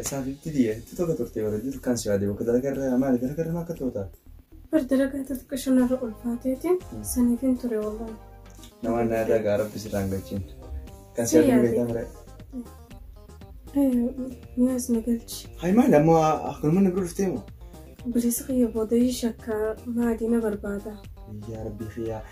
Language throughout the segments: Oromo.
Isaa fifti diye. Tuto ka turte bara jiru kan si ade. Waka dalaga irra maali dalaga irra maaka tuota. Bar dalagaa xixiqqa shamarra ulfaateetiin saniifin ture wallaan. Nama na irra gaa rabbi si raangachin. Kan si ade beeta mare. Miyaas na galchi. Hay maali amma akkanuma na bira dhuftee moo. Bilisa kiyya booda shakka maadii na barbaada. Yaa rabbi kiyyaa.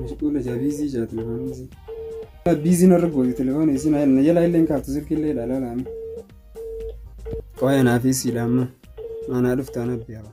Mashquula jaa biizii jaa telefoonni isii. Biiziin irra goote telefoonni isii na na jalaa illee hin kaaftu silkii illee ilaalaa laama. Qoya naa fi siidha amma. Maanaa dhuftaan abbi haba.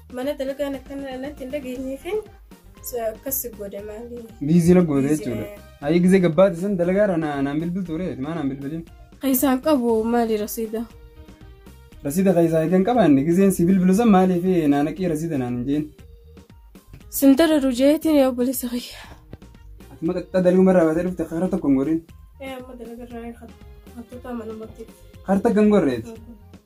Mana dalagaan akkana natti hin dhageenyeefin akkas si godhe maali? Biizii na goote jechuudha. Ayi gizee gabbaate san dalagaarra na- naan bilbil ture maa naan bilbilin. Keessaan qabu maali rasiida? Rasiida keessaa eegan qabaanne gizeen si bilbilu san maaliif naanaqii rasiida naan hin jeen. Sin dararu jeetiin yaa obboleessa kiyya. Ati maqaxxaa dalguu marraa baatee dhufte karaa tokko hin godhin. Ee amma dalagarraa hattoota mana murtii. Karaa takka hin gorreeti.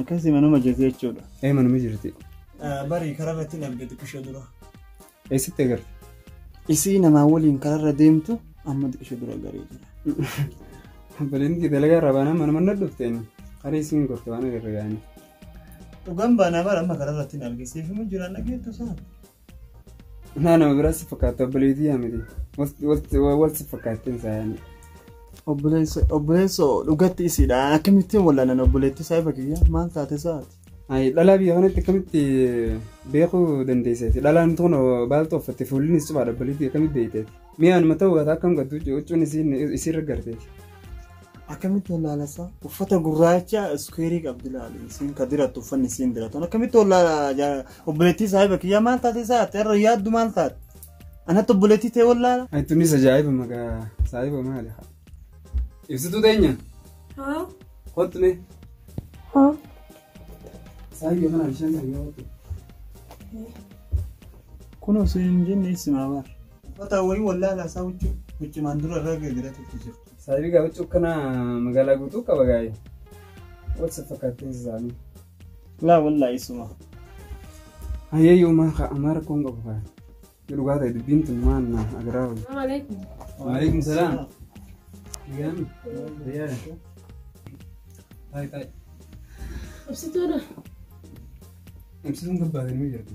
Akkasii manuma jirti jechuudha. Ee manuma jirti. Bari karaa irratti hin argite xiqqishoo dura. Eessatti agarte? Isii namaa waliin karaa irra deemtu amma xiqqishoo dura garee jira. Baleen kee dalagaa irraa baanaan manuma na dhufteen karaa isiin gorte waan agarra gaanii. Dhugaan baanaa bara amma karaa irratti hin argisiifamu jiraan dhageettu sana. Naa nama biraa si fakkaata obboleetii yaa miti. Wal si fakkaattiin isaa yaani. Obboleessa obboleessa dhugatti isiidha. Akkamittiin wallaalan obboleettii isaa ifa kiyya maal taate isaati? Ayi dhalaa biyya kanatti akkamitti beekuu dandeesseeti? Dhalaan tun baaltuu uffatte fuullinis cufaadha obboleettii akkamitti beekteeti? Mee anuma ta'uu baata akkam gattu huccuun isiin isiirra garteeti. Akkamitti wallaalasa? Uffata gurraacha iskuweerii qabdi laali. Isiin ka dirattu uffanni isiin diratan. Akkamitti wallaala obboleettii saahiba kiyyaa maal taate isaa ati irra yaaddu maal taate? Anatti obboleettii ta'e wallaala. Ani tunis ajaa'iba maqaa saahiba maali? Ibsituu teenya Haa? kottu mee. Haa? Saahiba mana bishaan sana yoo kottu. Kunoo siin hin jenne isimaa baar. Ufataa wayii wallaalaa isaa huccuu huccumaan dura irra gargaratu itti jirtu. Saayibii gaa huccuu kana magaalaa guutuu qaba gaa'e. What's up fakkaattiin isaanii? Laa wallaa isuma. Hayyee yoomaa kaa amaara koon qabu kaa. Yoo dhugaa ta'e dubbiin tun maal na agaraa wayii. Assalamualaikum. Waalaikum salaam. Nagaan. Fayyaa. Taa'e taa'e. Ibsituudha. Ibsituun gabbaatanii jirti.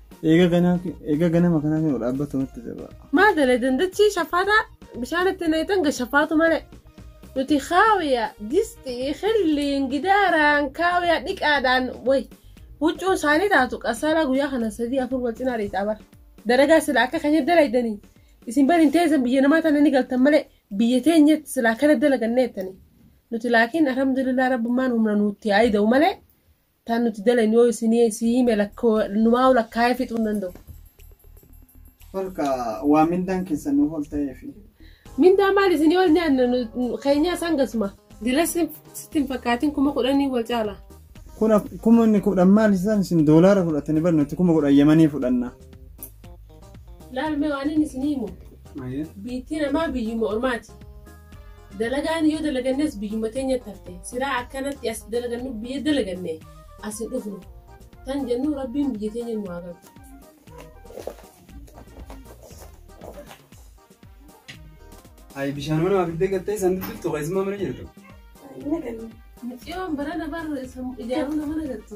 Eega ganaa eega ganama kanaa kan dhaabbatu natti jaba. Maal dalee dandachi shafaata bishaan itti naqxan ga shafaatu malee. Nuti kaawiya disti xilliin gidaaraan kaawiya dhiqaadhaan way huccuun isaanii taatu qasaala guyyaa kana sadii afur wal cinaa dhiitaa bara. Dalagaa sila akka kan dalaydanii isin bari hin teessan biyya namaa tana ni galtan malee biyya teenyatti sila akkana dalaganneettanii. Nuti laakiin alhamdulillah rabbummaan humna nuutti haa ida'u malee Tan nuti dalaynu yoo isinii sii hime lakkoo numaa'u lakkaa'ee fixuu hin danda'u. Holka waa mindaan keessan nuuf ol ta'eefi. Mindaa maal isinii ol nyaanna nu- keenyaa isaan gasuma. Dilas sitti hin fakkaatin kuma kudhanii wal caala. Kuna kuma inni kudhan maal isaan isin doolaara fudhatanii bar nuti kuma kudhan yamanii fudhanna. Laal mee waan inni isinii himu. Biittii namaa biyyuma ormaati. Dalagaan yoo dalagannes biyyuma teenyatti hafte siraa akkanatti as dalagannu biyya dalaganne as hin dhufnu tan jennu rabbiin biyya teenya nu haa qabu. Ayi bishaan mana waa fiddee gattee san dubbiftu keessumaa mana jirtu. Miciyoon barana bar ijaaruu nama nagartu.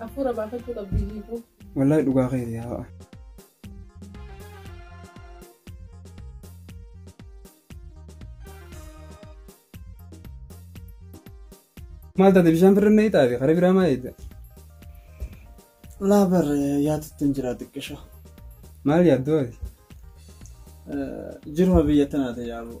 Hafuura baafachuu qabdi hiikuu. Wallaahi dhugaa keeti yaa. Maal taate bishaan birra na hiixaate kara biraa maa eedda? Laa bar yaatutti hin jira xiqqisho. Maal yaaddoo ati? Jiruma biyya tanaate yaaboo.